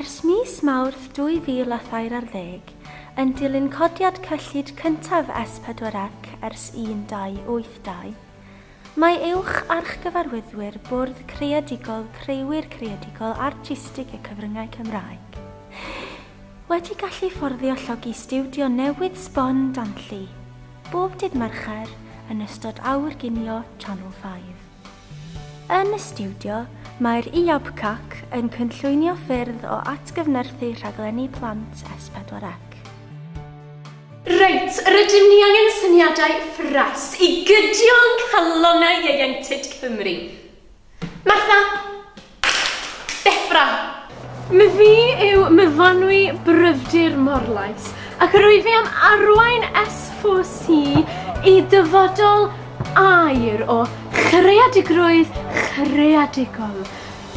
Ers mis Mawrth 2013, yn dilyn codiad cyllid cyntaf S4C ers 1282, mae Uwch Archgyfarwyddwyr Bwrdd Creadigol Creuwyr Creadigol Artistig y Cyfryngau Cymraeg wedi gallu fforddio llogi stiwdio newydd sbon Danlli, bob dydd Mercher yn ystod Awr Ginio Channel 5. Yn y stiwdio, mae'r IABCAC yn cynllwynio ffyrdd o atgyfnerthu rhaglenni plant S4C. Reit, rydym ni angen syniadau ffres i gydio yng nghalonnau ieuenctid Cymru. Martha! Deffra! Mae fi yw myfanwy bryfdir Morlais, ac rwy fi am arwain S4C i dyfodol air o chreadigrwydd chreadigol.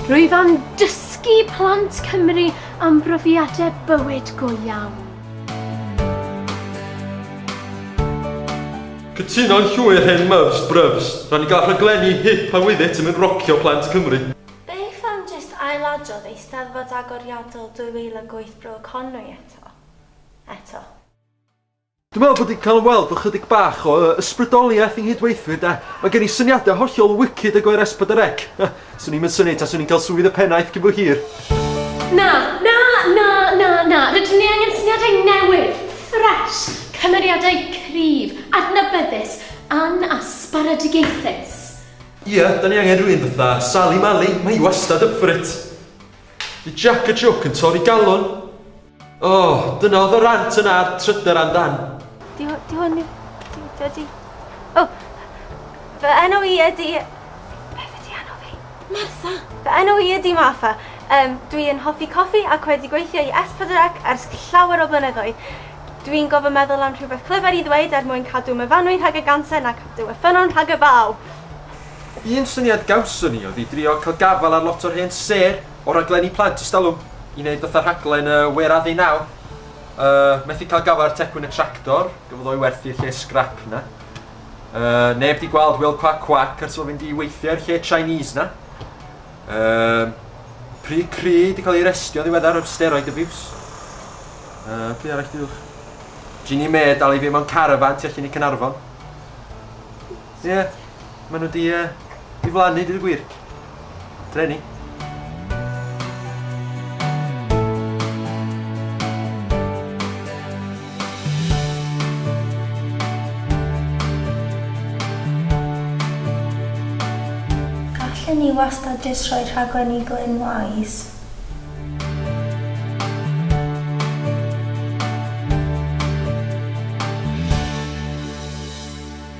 Rwyf am dysgu plant Cymru am brofiadau bywyd go iawn. Cytuno'n llwyr hen myfs brufs. Rhaid ni gael rhaglenni hip a with it yn mynd rocio plant Cymru. Beth am jyst ailadrodd Eisteddfod Agoriadol 2008 Bro Conwy eto? Eto. Dwi'n meddwl bod ni'n cael ymweld efo chydig bach o ysbrydoliaeth i'n nghydweithwyr de. Mae gen i syniadau hollol wicked o gyfer S4C. Swn i'm yn synnu taswn i'n cael swydd y pennaeth cyn bo hir. Na, na, na, na, na, rydyn ni angen syniadau newydd, ffres, cymeriadau cryf, adnabyddus, anasbaradigaethus. Ia, da ni angen rhywun fatha Sali Mali, mae hi wastad up for it. Neu Jac y Jwc yn torri galon. O! Dyna oedd y rant yna a'r trydar am dan. Di, di hwn i... Di, di, di... O! Fy enw i ydi... Beth ydi enw fi? Martha! Fy enw i ydi Martha. Um, dwi yn hoffi coffi ac wedi gweithio i S4C ers llawer o blynyddoedd. Dwi'n gofyn meddwl am rhywbeth clyfar i ddweud er mwyn cadw myfanwy rhag y ganser na cadw y ffynnon rhag y baw. Un syniad gawson ni oedd i drio cael gafael ar lot o'r hen sêr O raglen i plant ys talwm i neud fatha rhaglen yy wêr a fi nawr yy methu cael gafael ar tecwyn y tractor gafodd o'i werthu lle scrap na yy neb di gweld Wil Cwac Cwac ers o fynd i weithio i'r lle Chinese na yy Pri Cri di cael ei restio ddiweddar o'r steroid abuse yy pwy arall diwch Ginny May dal i fi mewn carafan tu allan i Cynarfon Ie, maen nhw di, uh, di flannu, dyd y gwir. Treni. Gallen ni wastad jyst rhoi rhaglen i Glyn Wise.